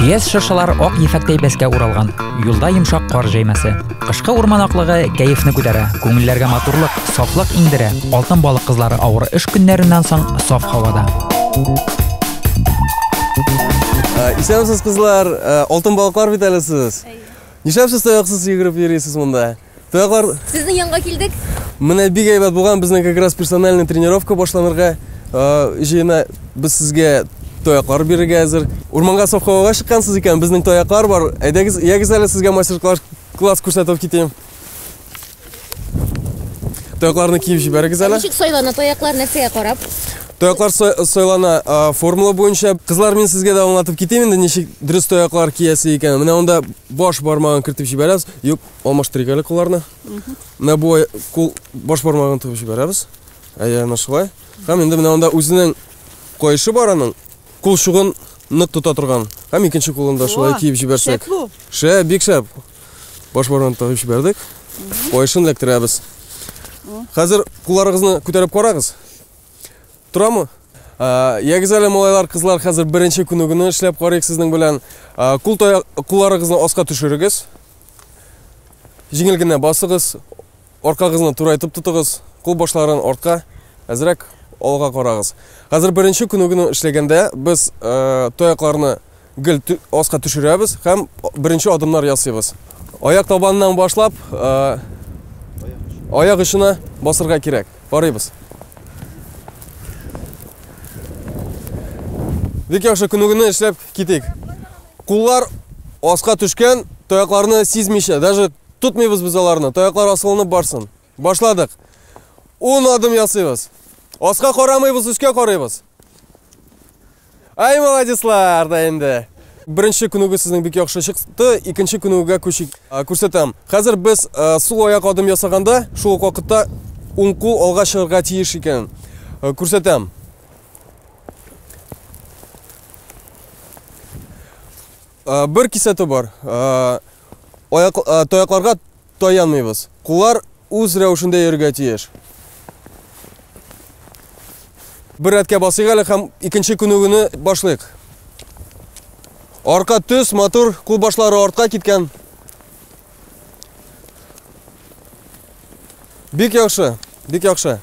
Көяз шыршылар ак ефәктәй бәскә уралган. Юлда йомшак кар җәймәсе. Кышкы урман аклыгы кәефне күтәрә, күңелләргә матурлык, сафлык иңдерә. Алтын балык кызлары авыр эш көннәреннән соң саф һавада. Ә, Исәнмесез, кызлар. Ә, Алтын балыклар бит әле сез. Нишләп сез таяксыз йөгереп йөрисез монда? Тагар. Сезнең янга килдек. Менә бик әйбәт булган безнең как раз персональный тренировка башланырга җыена. Без сезгә таяклар бирергә әзер. Урманга совхогаға чыккансыз икән, безнең таяклар бар. Әйдәгез, ягез әле сезгә мастер-класс класс күрсәтеп китим. Таякларны киеп җибәрегез әле. Ничек сайлана таяклар нәрсәгә карап? Таяклар сайлана формула буенча. Кызлар, мин сезгә дә аңлатып китим инде, ничек дөрес таяклар киясе икән. Менә анда баш бармагын кертеп җибәрәбез. Юк, алмаштырыйк әле кулларны. Менә бу кул баш бармагын тыгып җибәрәбез. Әйе, менә шулай. Һәм инде менә анда үзенең кайшы бар аның кул шугын нык тота торган. Һәм икенче кулын да шулай киеп җибәрсәк. Шә, бик шәп. Баш бармагын тыгып җибәрдек. Кайшын эләктерәбез. Хәзер кулларыгызны күтәреп карагыз. Торамы? Ягез әле, малайлар, кызлар, хәзер беренче күнегүне эшләп карыйк сезнең белән. Кул кулларыгызны аска төшерегез. Җиңел генә басыгыз. Аркагызны турайтып тотыгыз. Кул башларын артка, әзрәк алга карагыз. Хәзер беренче күнегүне эшләгәндә без таякларны Гел аска төшерәбез һәм беренче адымнар ясыйбыз. Аяк табаныннан башлап, аяк очына басырга кирәк. Барыйбыз. Бик яхшы күнегүне эшләп китик. Куллар аска төшкән, таякларны сизмичә, даже тотмыйбыз без аларны. Таяклар асылынып барсын. Башладык. Ун адым ясыйбыз. Аска карамыйбыз, үскә карыйбыз. Ай, молодецлар да инде. Беренче күнегү сезнең бик яхшы чыкты. Икенче күнегүгә күчик. Күрсәтәм. Хәзер без сул аяк адым ясаганда, шул ук вакытта уң кул алга чыгарга тиеш икән. Күрсәтәм. Бер кисәтү бар. Аяк таякларга таянмыйбыз. Куллар үз рәвешендә йөрергә тиеш. Бер рәткә басыйк әле һәм икенче күнегүне башлыйк. Арка төс, матур, кул башлары артка киткән. Бик яхшы, бик яхшы.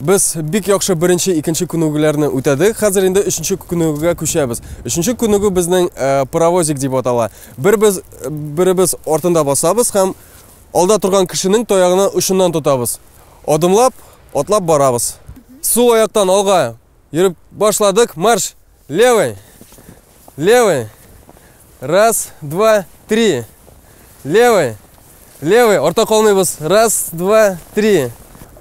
Без бик яхшы беренче, икенче күнегүләрне үтәдек. Хәзер инде өченче күнегүгә күчәбез. Өченче күнегү безнең э, паровозик дип атала. Бер без беребез артында басабыз һәм алда торган кешенең таягына очыннан тотабыз. Адымлап, атлап барабыз. Сул аяктан алга йөреп башладык. Марш! Левый! Левый! Раз, два, три! Левый! Левый! Орта калмыйбыз! Раз, два, три!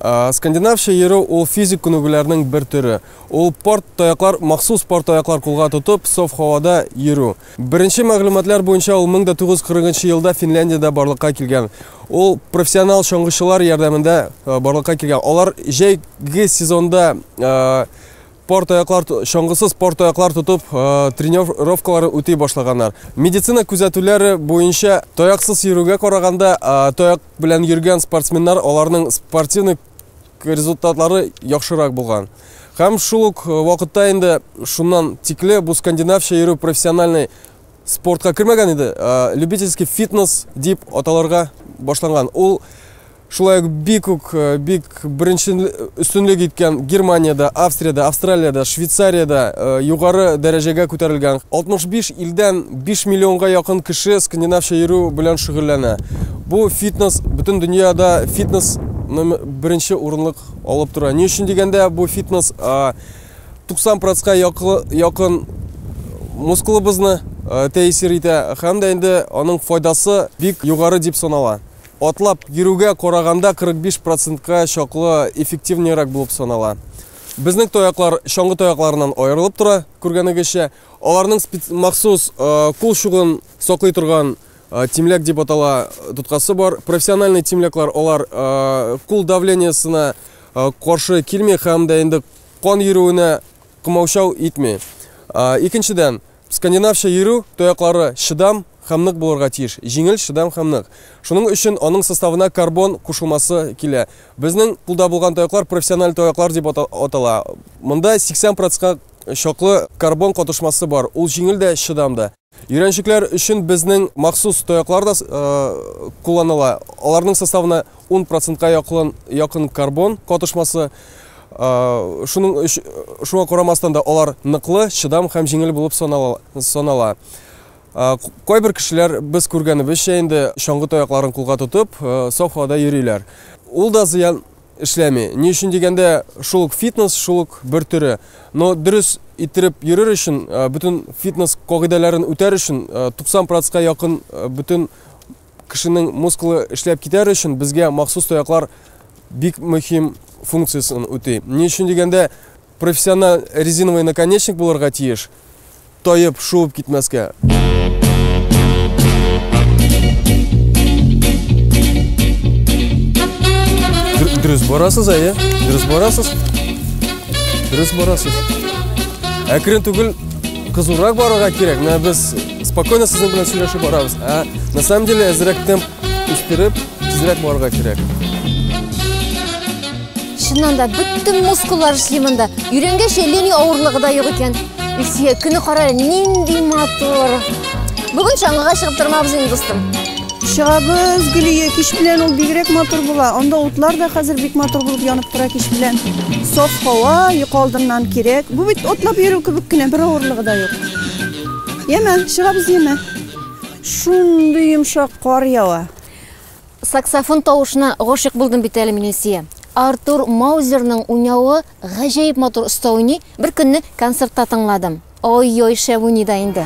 Скандинавча йөрү ул физик күнегүләрнең бер төре. Ул порт таяклар, махсус порт таяклар кулга тотып, соф һавада йөрү. Беренче мәгълүматлар буенча ул 1940 елда Финляндиядә барлыкка килгән. Ул профессионал чаңгычылар ярдәмендә барлыкка килгән. Алар җәйге сезонда пар таяклар чаңгысыз пар таяклар тотып э, тренировкаларын үти башлаганнар медицина күзәтүләре буенча таяксыз йөрүгә караганда э, таяк белән йөргән спортсменнар аларның спортивный результатлары яхшырак булган һәм шул ук э, вакытта инде шуннан тикле бу скандинавча йөрү профессиональный спортка кермәгән иде любительский фитнес дип аталарга башланган ул Шулай ук бик үк бик беренче өстенлек иткән Германиядә, Австриядә, Австралиядә, Швейцариядә югары дәрәҗәгә күтәрелгән. 65 илдән 5 миллионга якын кеше скандинавча йөрү белән шөгыльләнә. Бу фитнес бөтен дөньяда фитнес беренче урынлык алып тора. Ни өчен дигәндә, бу фитнес 90 процентка якын мускулыбызны тәэсир итә һәм дә инде аның файдасы бик югары дип санала. Атлап йөрүгә караганда 45 процентка чаклы эффективнерәк булып санала. Безнең таяклар чаңгы таякларыннан аерылып тора, күргәнегезчә. Аларның махсус кул чугын саклый торган тимләк дип атала тоткасы бар. Профессиональный тимләкләр алар кул давлениесына каршы килми һәм дә инде кан йөрүенә кымаучау итми. Икенчедән, Скандинавча йөрү тояклары чыдам һәм нык булырга тиеш. Җиңел, чыдам һәм нык. Шуның өчен аның составына карбон кушылмасы килә. Безнең кулда булган тояклар профессиональ тояклар дип атала. Монда 80 процентка чаклы карбон катышмасы бар. Ул җиңел дә, чыдам да. Өйрәнчекләр өчен безнең махсус тояклар да кулланыла. Аларның составына 10 процентка якын карбон катышмасы. Шуның өч, шуңа карамастан да алар ныклы, чыдам һәм җиңел булып санала. Кайбер кешеләр без күргәнебезчә инде чаңгы таякларын кулга тотып, саф һавада йөриләр. Ул да зыян эшләми. Ни өчен дигәндә, шул ук фитнес, шул ук бер төре. Но дөрес иттереп йөрер өчен, бөтен фитнес кагыйдәләрен үтәр өчен 90 процентка якын бөтен Кешенең мускулы эшләп китәр өчен безгә махсус таяклар бик мөһим функциясен үти. Ни өчен дигәндә, профессиональ резиновый наконечник булырга тиеш, таеп, шуып китмәскә. Дөрес барасыз, әйе? Дөрес барасыз? Дөрес барасыз. Әкрен түгел кызурак барырга кирәк. Менә без Спокойно сезнең белән сөйләшеп барабыз. Ә на самом деле әзрәк темп үстереп, тизрәк барырга кирәк. Чыннан да бөтен мускуллар эшли монда. Йөрәнгәч, лени авырлыгы да юк икән. Илсөя, көне кара, нинди матур. Бүген чаңгыга чыгып тормабыз инде, дустым. Чыгабыз, Гөлия, кич белән ул бигрәк матур була. Анда утлар да хәзер бик матур булып янып тора кич белән. Саф һава, йокы алдыннан кирәк. Бу бит отлап йөрү кебек кенә, бер авырлыгы да юк. Яме, чыгабыз яме. Шундый йомшак кар ява. Саксофон тавышына гашык булдым бит әле мин Илсия. Артур Маузерның уйнавы гаҗәеп матур оста уйный. Бер көнне концертта тыңладым. Ой-ой, шәп уйный да инде.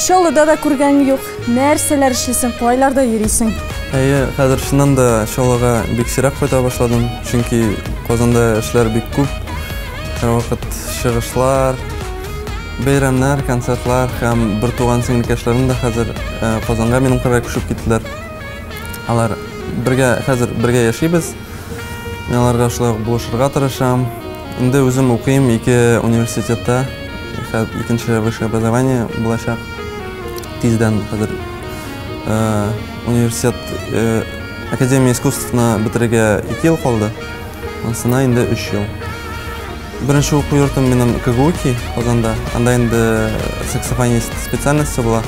Чаллыда да күргәнем юк. Нәрсәләр эшлисең, кайларда йөрисең? Әйе, хәзер чыннан да Чаллыга бик сирәк кайта башладым, чөнки Казанда эшләр бик күп. Һәрвакыт чыгышлар, бәйрәмнәр, концертлар һәм бертуган сеңлекәшләрем дә хәзер Казанга минем кырга күчеп киттеләр. Алар бергә, хәзер бергә яшибез. Мин аларга шулай ук булышырга тырышам. Инде үзем укыйм ике университетта. Икенче высшее образование булачак. Тиздән хәзер э, университет э, Академия искусствны бетерергә ике ел калды. Монсына инде өч ел. Беренче уку йортым минем КГУКИ Казанда. Анда инде саксофонист специальносте була.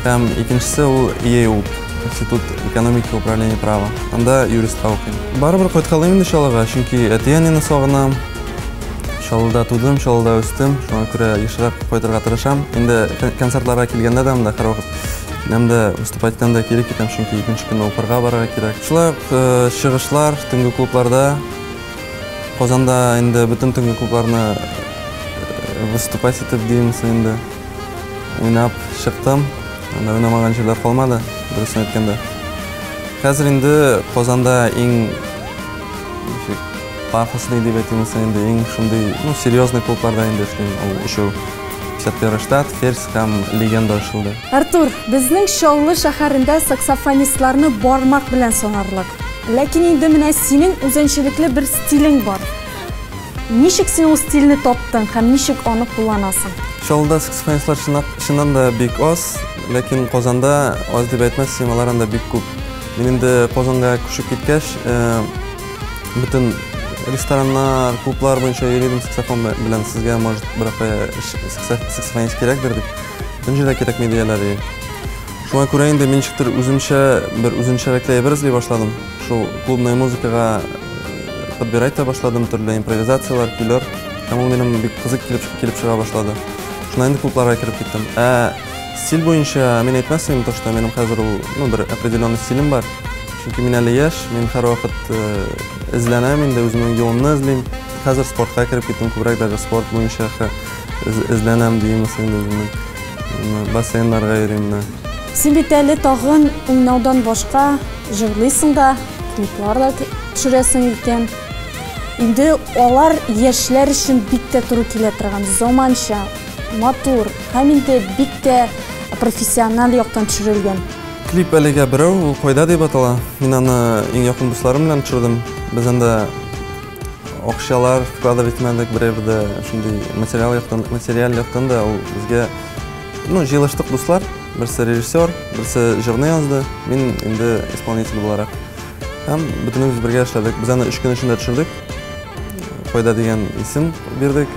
Һәм икенчесе ул ИЭУ, Институт экономики управления права. Анда юристка укыйм. Барыбер кайткалыйм инде Чаллыга, чөнки әти-әнине сагынам. Чаллыда тудым, Чаллыда үстем. Шуңа күрә ешрак кайтырга тырышам. Инде концертларга килгәндә дә монда һәрвакыт киләм дә, выступать итәм дә, кире китәм, чөнки икенче көнне укырга барырга кирәк. Шулай ук чыгышлар, төнге клубларда. Казанда инде бөтен төнге клубларны выступать итеп димсең инде уйнап чыктым. Анда уйнамаган җирләр калмады, дөресен әйткәндә. Хәзер инде Казанда иң ничек пафосный дип әйтимсең инде иң шундый, ну, серьезный клубларда инде эшлим. Ул өчәү. 51 штат, Ферзь һәм Легенда ачылды. Артур, безнең Чаллы шәһәрендә саксофонистларны бармак белән санарлык. Ләкин инде менә синең үзенчәлекле бер стилең бар. Ничек син ул стильне таптың һәм ничек аны кулланасың? Чаллыда саксофонистлар чыннан да бик аз, ләкин Казанда аз дип әйтмәссең, алар анда бик күп. Мин инде Казанга күчеп киткәч, бөтен рестораннар, клублар буенча йөри идем саксофон белән. Сезгә, может, берәр кая саксофонист кирәкдер, дип. Бөтен җирдә кирәкми, дияләр. Шуңа күрә инде мин ничектер үземчә бер үзенчәлекле әйбер эзли башладым. Шул клубная музыкага э, подбирать та башладым, төрле импровизацияләр, көйләр. Һәм ул минем бик кызык килеп, килеп чыга башлады. Шуннан инде клубларга кереп киттем. Ә стиль буенча мин әйтмәс идем, то, что минем хәзер ул, ну, бер определенный стилем бар. Чөнки мин әле яшь, мин һәрвакыт э, эзләнәм инде, үземнең юлымны эзлим. Хәзер спортка кереп киттем, күбрәк даже спорт буенча Эзләнәм димес инде үземне. Бассейннарга йөрим менә. Син бит әле тагын уйнаудан башка җырлыйсың да, клиплар да төшерәсең икән. Инде алар яшьләр өчен бик тә туры килә торган, заманча, матур, һәм инде бик тә профессиональ яктан төшерелгән. Клип әлегә берәү, ул Кайда дип атала. Мин аны иң якын дусларым белән төшердем. Без анда Акчалар вкладывать итмәдек берәр дә шундый материал яктан, материал яктан да ул безгә ну, җыелыштык дуслар, берсе режиссер, берсе җырны язды, мин инде исполнитель буларак. Һәм бөтенебез бергә эшләдек. Без аны өч көн эчендә төшердек. Файда дигән исем бирдек.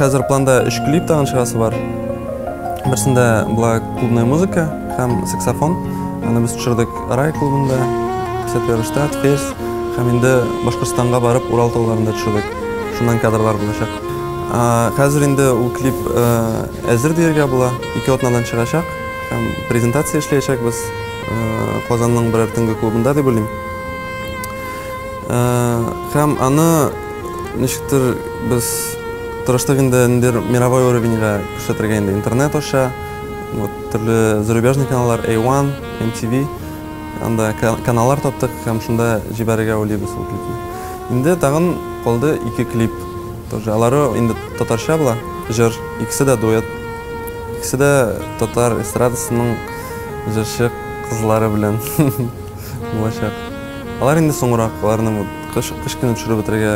Хәзер планда өч клип тагын чыгасы бар. Берсендә була клубная музыка һәм саксофон. Аны без төшердек Рай клубында, Сәтверштат, Фес һәм инде Башкортстанга барып Урал тауларында төшердек. Шуннан кадрлар булачак. Хәзер инде ул клип әзер диергә була. Ике атнадан чыгачак һәм презентация эшләячәкбез Казанның берәр төнге клубында дип уйлыйм. Һәм аны ничектер без тырыштык инде ниндидер мировой уровеньга күрсәтергә инде интернет аша. Вот төрле зарубежный каналлар A1, MTV анда каналлар таптык һәм шунда җибәрергә уйлыйбыз ул клипны. Инде тагын калды ике клип. Тоже алары инде татарча була, җыр, икесе дә дуэт. Икесе дә татар эстрадасының җырчы кызлары белән. булачак. Алар инде соңрак, аларны кыш кыш көне төшереп бетерергә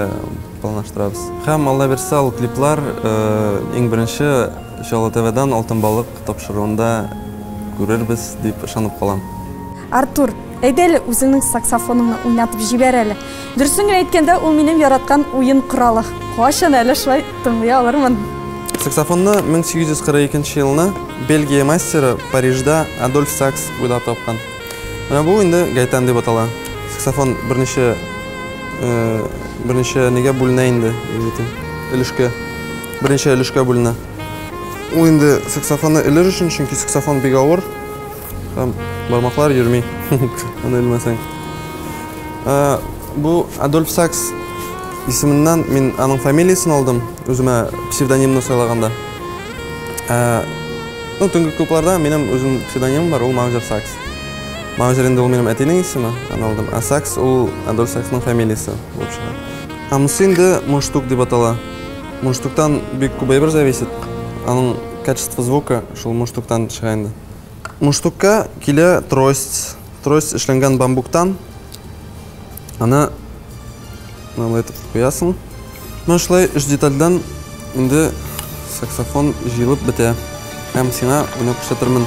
планлаштырабыз. Һәм Алла бирса ул клиплар иң беренче Чаллы ТВдан Алтын балык тапшыруында күрербез дип ышанып калам. Артур, әйдә әле үзеңнең саксофоныңны уйнатып җибәр әле. Дөресен генә әйткәндә, ул минем яраткан уен коралы. Кайчан әле шулай тыңлый алырмын? Саксофонны 1842 елны Бельгия мастеры Парижда Адольф Сакс уйлап тапкан. Менә бу инде гайтан дип атала. Саксофон берничә берничә нигә бүленә инде, егетем. Өлешкә. Берничә өлешкә бүленә. Ул инде саксофонны элер өчен, чөнки саксофон бик авыр. Там бармаклар йөрми. Аны элмәсәң. Бу Адольф Сакс исеменнән мин аның фамилиясен алдым, үземә псевдонимны сайлаганда. Ну, төнге клубларда минем үзем псевдонимым бар, ул Маузер Сакс. Маузер инде ул минем әтинең исеме, аны алдым. Ә Сакс ул Адольф Саксның фамилиясе булып чыга. Ә монысы инде муштук дип атала. Муштуктан бик күп әйбер зависит. Аның качество звука шул муштуктан чыга инде. Муштукка килә трость. Трость эшләнгән бамбуктан. Аны Мынандай итеп куясың. Менә шулай өч детальдән инде саксофон җыелып бетә. Һәм сиңа уйнап күрсәтермен.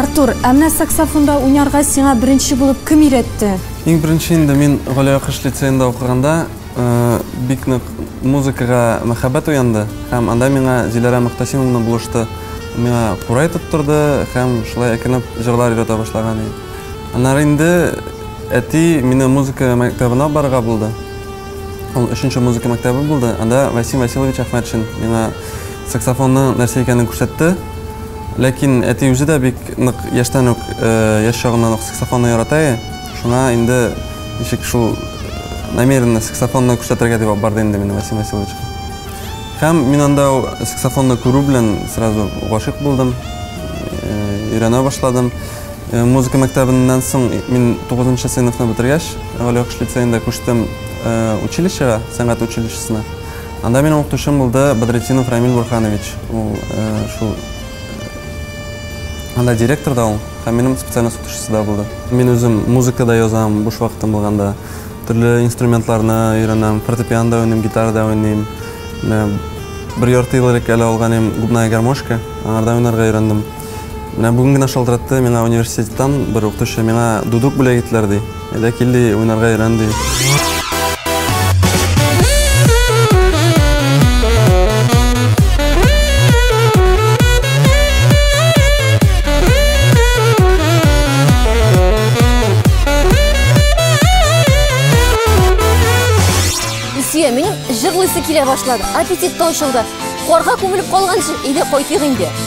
Артур, ә менә саксофонда уйнарга сиңа беренче булып кем өйрәтте? Иң беренче инде мин Галиакыш лицеенда укыганда бик нык музыкага мәхәббәт уянды һәм анда миңа Зиләрә Мөхтәсимовна булышты. Миңа курай тоттырды һәм шулай әкренләп җырлар өйрәтә башлаган идем. Аннары инде әти мине музыка мәктәбенә барырга булды. Ул өченче музыка мәктәбе булды. Анда Васим Васильевич Әхмәтшин миңа саксофонның нәрсә икәнен күрсәтте. Ләкин әти үзе дә бик нык яшьтән үк, яшь чагыннан ук саксофонны ярата иде. Шуңа инде ничек шул намеренно саксофонны күрсәтергә дип алып барды инде мине Васим Васильевичка. Һәм мин анда саксофонны күрү белән сразу гашыйк булдым, өйрәнә башладым. Э, музыка мәктәбеннән соң мин 9 нчы сыйныфны бетергәч, Галиакыш лицеенда күчтем э, училищега, сәнгать училищесына. Анда минем укытучым булды Бадретдинов Рамиль Бурханович. Ул э, шул анда директор да ул, һәм минем специальность укытучысы да булды. Мин үзем музыка да язам, буш вакытым булганда. Төрле инструментларны өйрәнәм, фортепиано да уйныйм, гитара да уйныйм. Бер ярты ел элек әле алган идем губная гармошка, аңарда уйнарга өйрәндем. Менә бүген генә шалтыратты миңа университеттан бер укытучы, миңа дудук бүләк иттеләр ди. Әйдә кил ди, уйнарга өйрән ди. килә башлады. Аппетит та ачылды. Карга күмелеп калганчы, әйдә кайтыйк инде.